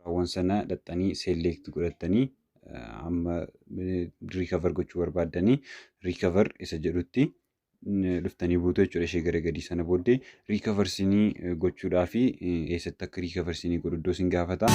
Raawwan sana dhaxxanii select godhattanii amma recover gochuu barbaaddanii recover isa jedhutti dhuftanii buutu jechuudha ishee gara gadii sana booddee recover sinii gochuudhaa fi eessatti akka recover sinii godhu iddoo sin gaafata.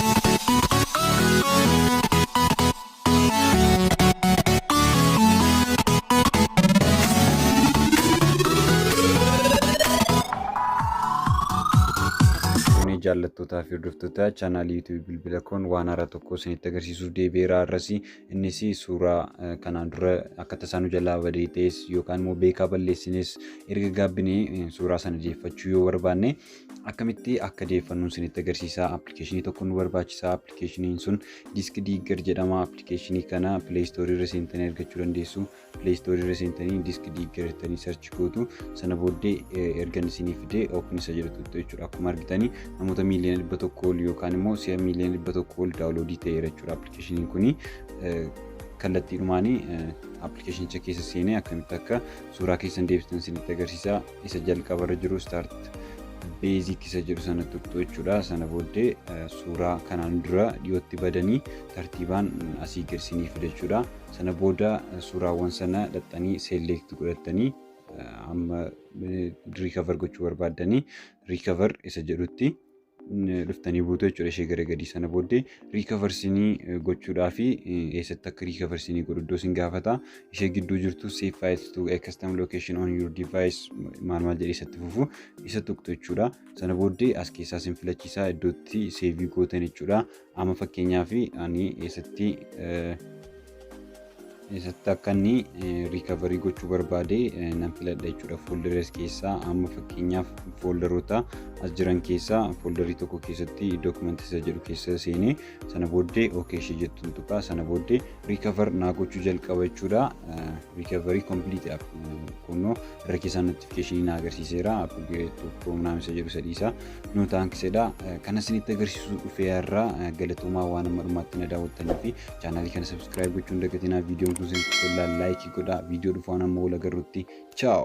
Fuunee jaallattootaa fi hordoftoota chaanaalii yuutuubii bilbila koon waan haaraa tokko isinitti agarsiisuuf deebi'eera har'as innis suuraa eh, kanaan dura akka tasaa nu jalaa badee ta'es yookaan immoo beekaa balleessines erga gaabbinee eh, suuraa sana deeffachuu yoo barbaanne akkamitti akka deeffannu isinitti agarsiisa appilikeeshinii tokko nu barbaachisa appilikeeshiniin sun disk diigger jedhama appilikeeshinii kana pileestoorii irra seentanii argachuu dandeessu pileestoorii irra seentanii disk diigger jettanii sarchi gootu sana booddee ergan isinii fidee oopin isa jedhutu jechuudha akkuma argitanii namoota miiliyoona dhibba tokko ol yookaan immoo si'a miiliyoona dhibba tokko ol daawuloodii ta'eera jechuudha appilikeeshiniin kuni kallattiidhumaanii appilikeeshinicha keessa seenee akkamitti akka suuraa keessan deebistan isinitti agarsiisa isa jalqabarra jiru start basic isa jedhu sana tuqxu jechuudha sana booddee suuraa kanaan dura dhiyootti badanii tartiibaan asii gersanii fidachuudha sana booda suuraawwan sana dhaxxanii select godhattanii amma recover gochuu barbaaddanii recover isa jedhutti dhuftanii buutu jechuudha ishee gara gadii sana booddee riikavarsinii gochuudhaa fi eessatti akka riikavarsinii godhu iddoo isin gaafata ishee gidduu jirtu save files to a custom location on your device maal maal jedhee isatti fufu isa tuqxu jechuudha sana booddee as keessaa isin filachiisaa iddootti seevii gootan jechuudha Amma fakkeenyaaf ani eessatti eessatti akka inni riikavarii gochuu barbaade nan filadha jechuudha fooldaras keessaa amma fakkeenyaaf fooldaroota as jiran keessaa fooldarii tokko keessatti dookumantii isa jedhu keessa seenee sana booddee ookee ishee jettuun tuqaa sana booddee riikavar naa gochuu jalqaba jechuudha riikavarii kompiiliitiidhaaf kunnoo irra keessaa notifikeeshinii naa agarsiiseera appigireetu piroominaam isa jedhu sadiisaa no thanks jedha kana isinitti agarsiisuu dhufee har'aa galatoomaa waan amma dhumaatti na daawwattanii fi chaanaalii kana subscribe gochuu hin dagatinaa viidiyoon kun isinitti tollaa laayikii godhaa viidiyoo dhufaan amma wal agarrutti chaaw